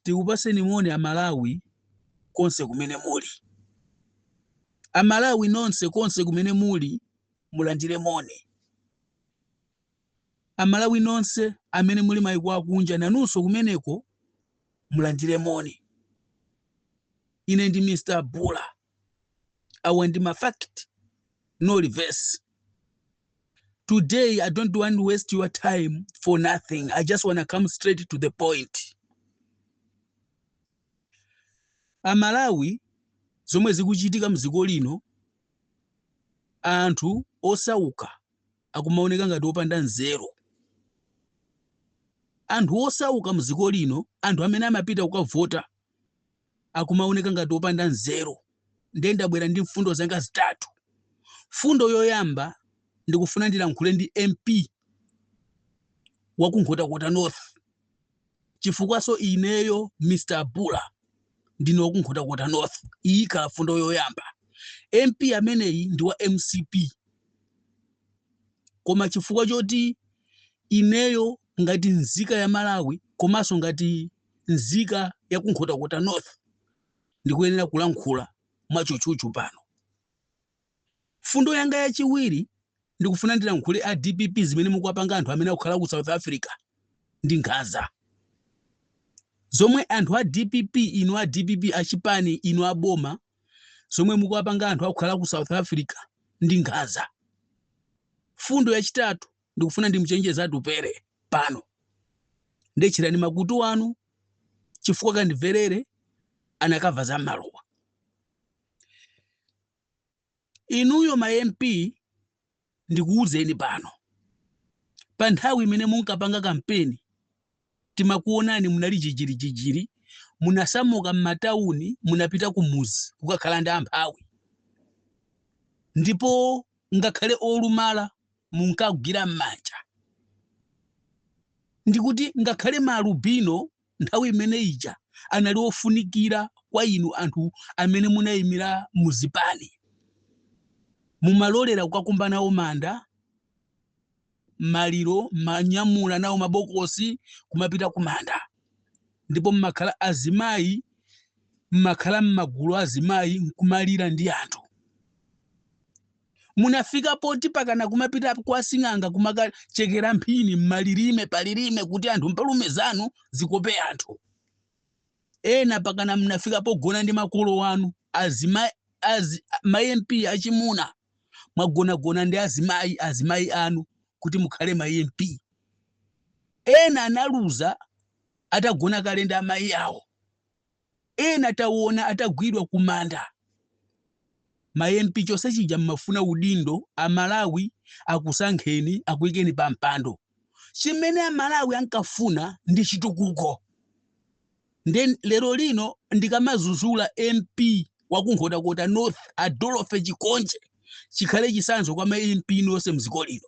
tikupaseni moni amalawi konse kumene muli amalawi nonse konse kumene muli mulandire moni amalawi nonse amene muli maiko akunja nanunso kumeneko mulandire moni ine ndi mr bula awa ndi ma fact no reverse today i don't want to waste your time for nothing i just want to come straight to the point amalawi zomwe zikuchitika mdziko lino anthu osauka akumaoneka ngati opanda nzeru anthu osauka mdziko lino anthu amene amapita kukavota akumaoneka ngati opanda nzeru ndiye ndabwera ndi mfundo zanga zitatu mfundo yoyamba ndikufuna ndilankhule ndi mp wakunkhotakota north chifukwanso ineyo mr bula ndine wakunkhotakota north iyi ikhala mfundo yoyamba mp ameneyi ndi wa mcp koma chifukwa choti ineyo ngati nzika ya malawi komanso ngati nzika ya ku nkhotakota north ndikuyenera kulankhula mwachuchuchu pano fundo yanga yachiwiri ndikufuna ndilankhule a dpp zimene mukuwapanga anthu amene akukhala ku south africa ndi nkhaza zomwe anthu a dpp inu a dpp achipani inu a boma zomwe mukuwapanga anthu akukhala ku south africa ndi nkhaza fundo yachitatu ndikufuna ndimuchenjeze atupere pano ndiye tcherani makutu anu chifukwa kandimvere anakanena za mmaluwa inuyo ma mp ndikuwuzeni pano pa nthawi imene munkapanga kampeni timakuwonani munali jijirijijiri munasamuka mmatauni munapita kumuzi kukakhala ndi amphawi ndipo ngakhale olumala munkagwira m'manja ndikuti ngakhale maalubino nthawi imene ija anali ofunikira kwa inu anthu amene munayimira muzipani mumalolera kukakumba nawo manda mmaliro mmanyamula nawo mabokosi kumapita kumanda ndipo mmakhala azimayi mmakhala mmagulu azimayi nkumalira ndi anthu munafika poti pakana kumapita kwa sing'anga kumakachekera mphini mmalilime palilime kuti anthu mpalume zanu zikope anthu ena pakana munafika pogona ndi makolo anu azima az, ma mp achimuna mwagonagona ndi azimayi azimayi anu kuti mukhale ma mp ena analuza atagona kale ndi amayi awo ena taona atagwidwa kumanda ma mp chonse chija mmafuna udindo amalawi akusankheni akuyikeni pa mpando chimene amalawi ankafuna ndi chitukuko nde lero lino ndikamazuzula mp wa ku nkhotakota north adolofe chikonje chikhale chisanzo kwa ma mp nonse mdziko lino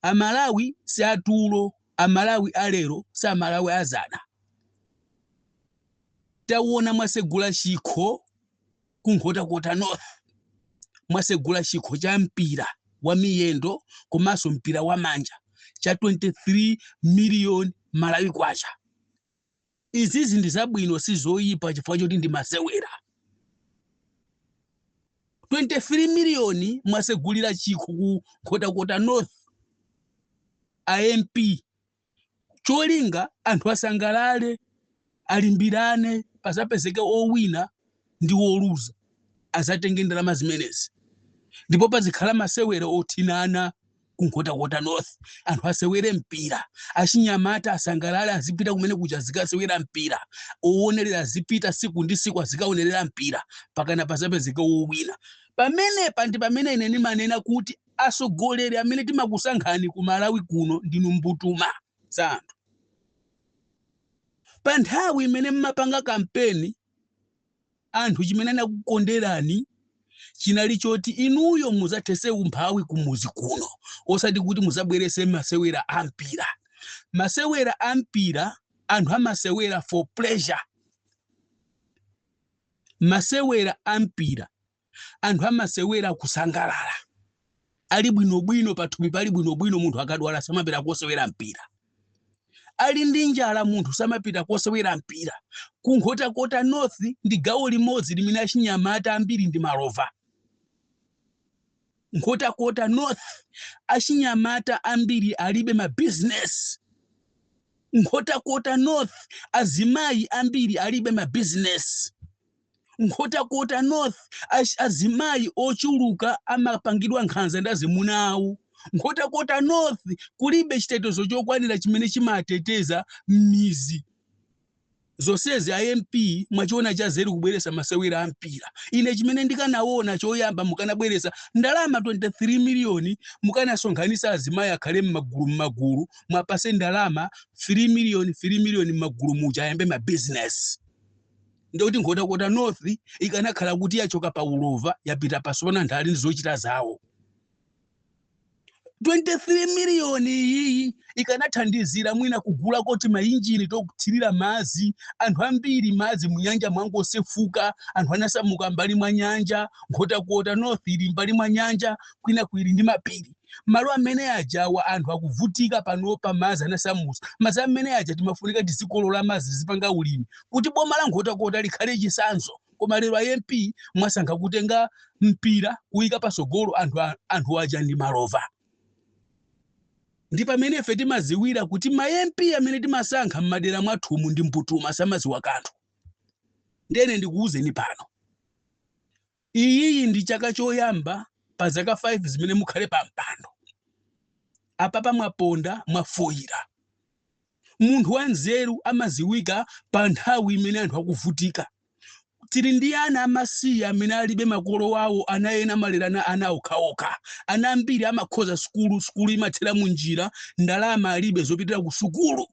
amalawi si atulo amalawi alero si amalawi azana tawona mwasegula chikho ku nkhotakota north mwasegula chikho cha mpira wa miyendo komanso mpira wa manja cha 23 miliyoni malawi kwacha izizi ndi zabwino si zoyipa chifukwa choti ndi masewera 23 miliyoni mwasegulira chikho ku nkhotakota north amp cholinga anthu asangalale alimbirane pazapezeke owina ndi woluza azatenge ndalama zimenezi ndipo pazikhala masewera othinana ku nkhotakota north anthu asewere mpira achinyamata asangalale azipita kumene kuja azikasewera mpira owonerera azipita siku ndi siku azikaonerera mpira pakana pazapezeke wowina pamenepa ndi pamene ine ndimanena kuti atsogoleri amene timakusankhani ku malawi kuno ndinu mbutuma za anthu pa nthawi imene mmapanga kampeni anthu chimene anakukonderani chinali choti inuyo muzathese umphawi kumuzi kuno osati kuti muzabwerese masewera a mpira masewera a mpira anthu amasewera for pleasure masewera a mpira anthu amasewera kusangalala ali bwinobwino pathupi pali bwinobwino munthu akadwala samapita kosewera mpira ali ndi njala munthu samapita kosewera mpira kunkhotakota north ndi gawo limodzi limene achinyamata ambiri ndi malova nkhotakota north achinyamata ambiri alibe mabizinesi nkhotakota north azimayi ambiri alibe mabizinesi Nkhotakota North, Azimayi ochuluka amapangidwa nkhanza ndi azimuna awo. Nkhotakota North kulibe chitetezo chokwanira chimene chimateteza m'mizi. Zonsezi a MP mwachiona cha zeru kubweretsa masewera a mpira. Ine chimene ndikanaona choyamba mukanabweresa ndalama 23 miliyoni mukanasonkhanisa azimayi akhale m'magulu m'magulu mwapase ndalama 3 miliyoni 3 miliyoni m'magulu muja ayambe mabizinesi. ndiye kuti nkhotakota north ikanakhala kuti yachoka pa ulova yapita pansi pano anthu ali ndi zochita zawo 23 miliyoni iyiyi ikanathandizira mwina kugula timainjini tokuthirira madzi anthu ambiri madzi munyanja mwangosefuka anthu anasamuka mbali mwa nyanja nkhotakota north ili mbali mwa nyanja kwinaku ili ndi mapiri malo amene ajawa anthu akuvutika panopa madzi anawasamusa madzi amene aja timafunika tizikolola madzi tizipanga ulimi kuti boma la nkhotakota likhale chisanzo koma lero a mp mwasankha kutenga mpira kuyika pasogolo anthu aja ndi malova ndi pamene ife timaziwira kuti ma mp amene timasankha m'madera mwathumu ndi mbutuma samaziwa kanthu ndene ndikuwuzeni pano Iyiyi ndi chaka choyamba pa zaka 5 zimene mukhale pa mpando. Apapa mwaponda, mwafoira. Munthu wa nzeru amaziwika pa nthawi imene anthu akuvutika. Tili ndi ana amasiye amene alibe makolo wawo, ana ena amalerana ana okhaokha. Ana ambiri amakhoza sukulu, sukulu imathera munjira, ndalama alibe zopitira ku sukulu.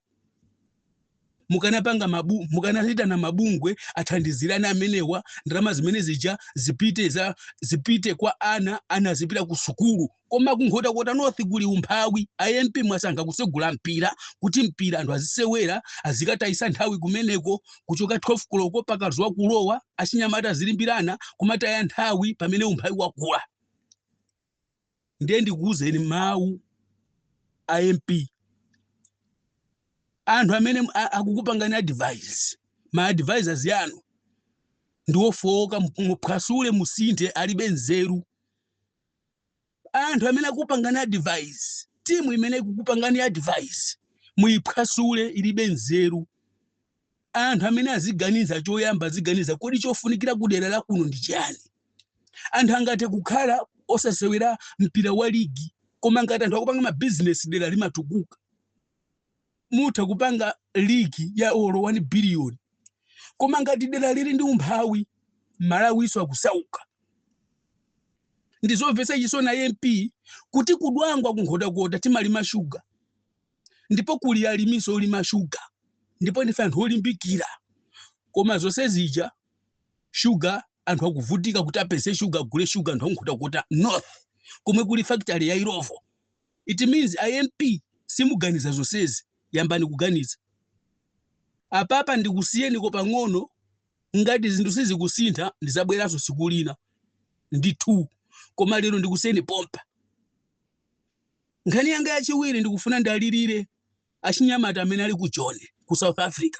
mukanapanga mukanaitana mabungwe athandizire ana amenewa ndalama zimene zija zipite za zipite kwa ana ana azipita ku sukulu koma kunkhotakota north kuli umphawi a mp mwasankha kusegula mpira kuti mpira anthu azisewera azikatayisa nthawi kumeneko kuchoka 12 koloko mpaka zuwa kulowa achinyamata azilimbirana kumataya nthawi pamene umphawi wakula ndiye ndikuwuzeni mawu a mp anthu amene akukupangani advice ma advisors anu ndiwofowoka muphwasule musinthe alibe nzeru anthu amene akupangani advice timu imene ikukupangani advice muyiphwasule ilibe nzeru Anthu amene aziganiza choyamba aziganiza kodi chofunikira kudera la kuno ndi chiyani. Anthu angathe kukhala osasewera mpira wa ligi koma ngati anthu akupanga mabizinesi dera limatukuka. Mutha kupanga ligi ya olo 1 biliyoni koma ngati dera lili ndi umphawi Malawiso akusauka. Ndizomvetsa chisoni a MP kuti ku Dwangwa ku Nkhotakota timalima shuga ndipo kuli alimiso olima shuga ndipo ndife anthu olimbikira koma zonse zija shuga anthu akuvutika kuti apeze shuga agule shuga anthu a nkhotakota north komwe kuli factory ya illovo it means a mp simuganiza zonsezi yambani kuganiza apapa ndikusiyeniko pang'ono ngati zinthu sizikusintha ndizabweranso siku lina ndithu koma lero ndikusiyeni pompa Nkhani yanga yachiwiri ndikufuna ndiwalirire achinyamata amene ali ku Joni ku South Africa.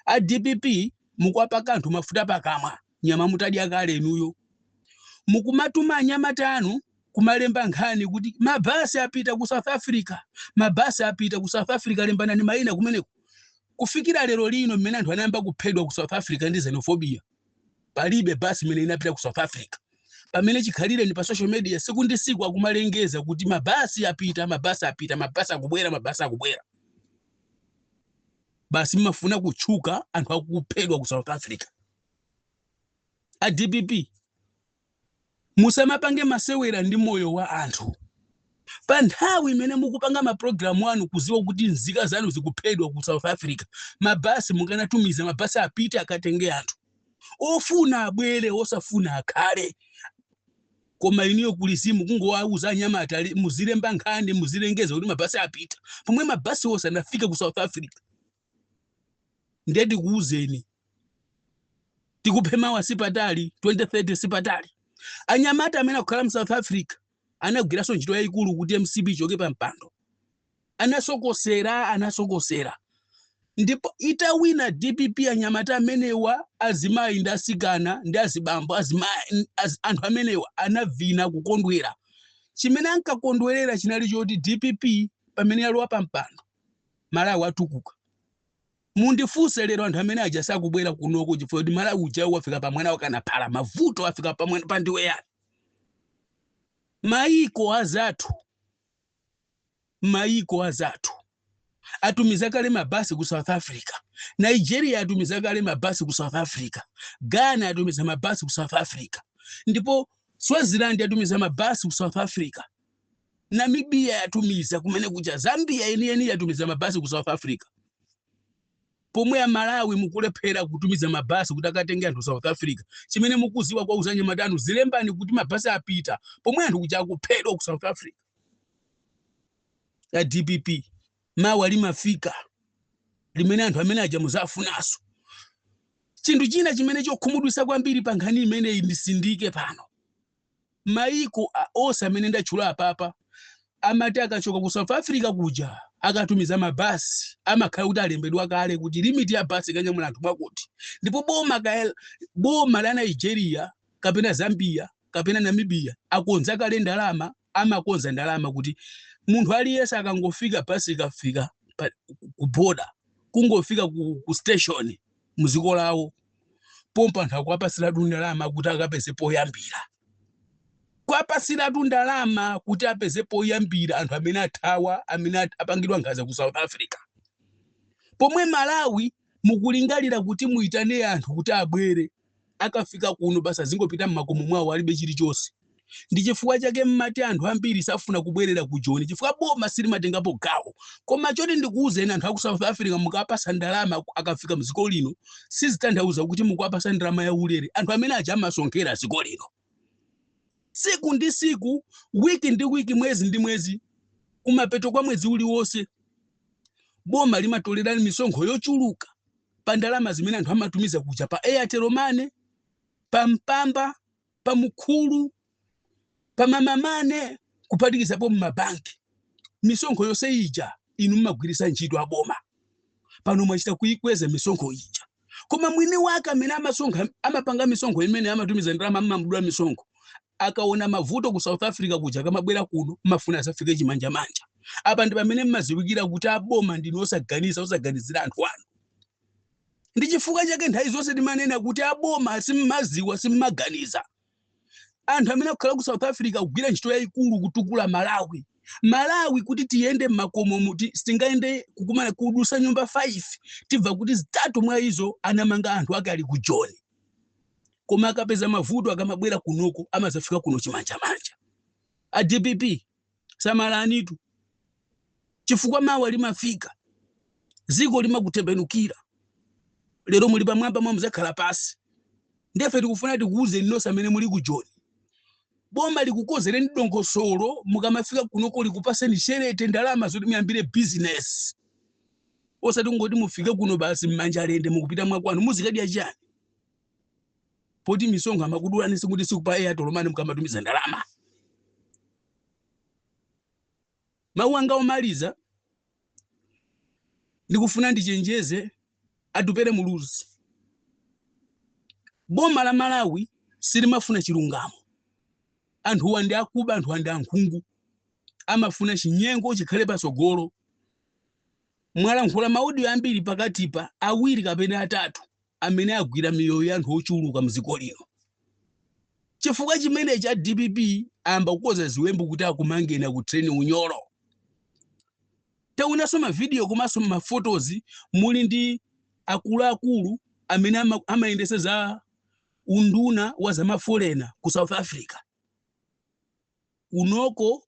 A DPP mukuwapaka anthu mafuta pakamwa, nyama mutadya kale inuyo. Mukumatuma anyamata anu kumalemba nkhani kuti mabasi apita ku South Africa, mabasi apita ku South Africa, lembanani mayina kumeneko. Kufikira lero lino mmene anthu anayamba kuphedwa ku South Africa ndi xenophobia, palibe basi imene inapita ku south africa pamene chikhalireni pa social media siku ndi siku akumalengeza kuti mabasi apita mabasi apita mabasi akubwera mabasi akubwera basi mumafuna kutchuka anthu akuphedwa ku south africa a dpp musamapange masewera ndi moyo wa anthu pa nthawi imene mukupanga mapulogalamu anu kuziwa kuti nzika zanu zikuphedwa ku south africa mabasi mukanatumiza mabasi apite akatenge anthu ofuna abwere osafuna akhale koma inuyo kulizimu kungowauza anyamata anu muzilemba nkhani muzilengeza kuti mabasi apita pomwe mabasi onse anafika ku south africa ndiye ndikuwuzeni DPP mawa sipatali 2030 sipatali anyamata amene akukhala mu south africa anagwiranso ntchito yayikulu kuti mcp ichoke pa mpando anasokosera anasokosera ndipo itawina dpp anyamata amenewa azimayi ndi asikana ndi azibambo azimayi az, anthu amenewa anavina kukondwera chimene ankakondwerera chinali choti dpp pamene yalowa pa mpando Malawi watukuka. Mundifunse lero anthu amene aja sakubwera kunoko chifukwa kuti Malawi uja wafika pa mwana wakana phala mavuto afika pa mwana pa indiwe yani. Maiko azathu maiko azathu atumiza kale mabasi ku South Africa. Nigeria atumiza kale mabasi ku South Africa. Ghana atumiza mabasi ku South Africa. Ndipo Swaziland atumiza mabasi ku South Africa. Namibia yatumiza kumene kuja, Zambia yeniyeni yatumiza mabasi ku South Africa, pomwe a Malawi mukulephera kutumiza mabasi kuti akatenge anthu South Africa. Chimene mukuziwa kuwauza anyamata anu azilemba kuti mabasi apita, pomwe anthu kuja akuphedwa ku South Africa. A DPP mawa limafika limene anthu amene aja muzawafunanso. Chinthu china chimene chokhumudwisa kwambiri pa nkhani imeneyi nditsindike pano Maiko onse amene ndatchula apapa amati akachoka ku South Africa kuja akatumiza mabasi amakhala kuti alembedwa kale kuti limit ya basi ikanyamula anthu mwakuti ndipo boma ka boma la Nigeria kapena Zambia kapena Namibia akonza kale ndalama amakonza ndalama kuti munthu aliyense akangofika basi ikafika pa- ku border kungofika ku, ku station muziko lawo pompa anthu akuwapatsiratu ndalama kuti akapeze poyambira kuwapatsiratu ndalama kuti apeze poyambira anthu amene athawa amene at- apangidwa nkhanza ku south africa pomwe malawi mukulingalira kuti muitane anthu kuti abwere akafika kuno basi azingopita mmakomo mwawo alibe chilichonse ndi chifukwa chake mmati anthu ambiri safuna kubwerera ku joni chifukwa boma silimatengapo gawo koma choti ndikuwuzeni anthu aku south africa mukawapasa ndalama akafika mdziko lino sizitanthauza kuti mukuwapasa ndalama ya ulere anthu amene aja amasonkhera dziko lino siku ndi siku wiki ndi wiki mwezi ndi mwezi kumapeto kwa mwezi uliwonse boma limatolera misonkho yochuluka pa ndalama zimene anthu amatumiza kuja pa airtel money pa mpamba pa mukuru pa mama money kuphatikizapo mmabanki misonkho yonse ija inu mmagwiritsa ntchito aboma pano mwachita kuikweza misonkho ija koma mwini wake amene amasonkha amapanga misonkho imene amatumiza ndalama mmamdula misonkho akaona mavuto ku south africa kuja akamabwera kuno mmafuna azafike chimanjamanja apa ndi pamene mmaziwikira kuti aboma ndinu osaganiza osaganizira anthu anu ndichifukwa chake nthawi zonse timanena kuti aboma simmaziwa simmaganiza anthu amene akukhala ku south africa akugwira ntchito yayikulu kutukula malawi malawi kuti tiyende mmakomo muti sitingayende kukumana kudusa nyumba 5 tibva kuti zitatu mwa izo anamanga anthu ake ali ku joni koma akapeza mavuto akamabwera kunoko amazafika kuno chimanjamanja a dpp samalanitu chifukwa mawa limafika dziko limakutembenukira lero muli pamwamba mawa muzakhala pasi ndefe tikufuna tikuwuzeni nonse amene muli ku joni boma likukozereni dongosolo mukamafika kunoko likupaseni sherete ndalama zoti muyambire bizinesi osati kungoti mufike kuno basi mmanja lende mukupita mwakwanu muzikadya chani poti misonkho amakudulani siku ndi siku pa airtel money mukamatumiza ndalama mawu anga omaliza ndikufuna ndichenjeze atupele muluzi boma la malawi silimafuna chilungamo anthuwa ndi akuba anthuwa ndi ankhungu amafuna chinyengo chikhale patsogolo mwalankhula maudio ambiri pakatipa awiri kapena atatu amene agwira miyoyo ya anthu ochuluka mdziko lino. Chifukwa chimenechi a dpp ayamba kukoza ziwembu kuti akumangeni akuthireni unyolo. Taonanso mavidiyo komanso mafotozi muli ndi akuluakulu amene ama- amayendetsa za unduna wa zamafolena ku South Africa. Kunoko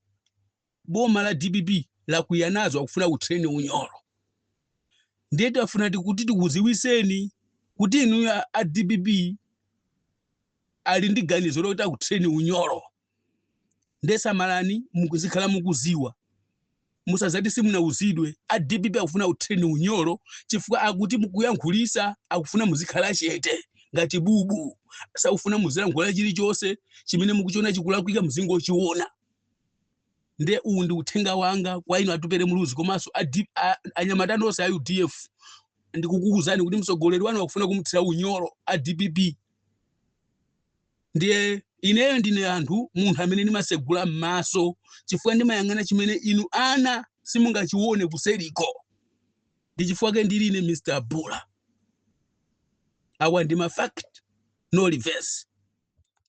boma la dpp lakwiya nazo akufuna kukuthirani unyolo ndiye tafuna kuti tikuziwiseni kuti inu a- a dpp ali ndi ganizo lokuti akuthireni unyolo ndiye samalani muzikhala mukuziwa musazati simunauzidwe a dpp akufuna kukuthirani unyolo chifukwa akuti mukuyankhulisa akufuna muzikhala chete ngati bubu sakufuna muzilankhula chilichonse chimene mukuchiona chikulakwika muzingochiona nde uwu ndi uthenga wanga kwa inu atupere muluzi komanso adi- a- anyamata nonse a udf ndikukuuzani kuti mtsogoleri wanu akufuna kumthira unyolo a dpp ndiye ineyo ndine anthu munthu amene ndimasegula m'maso chifukwa ndimayang'ana chimene inu ana simungachione kuseriko ndi chifukwa chake ndili ine mr bula awa ndi mafact no reverse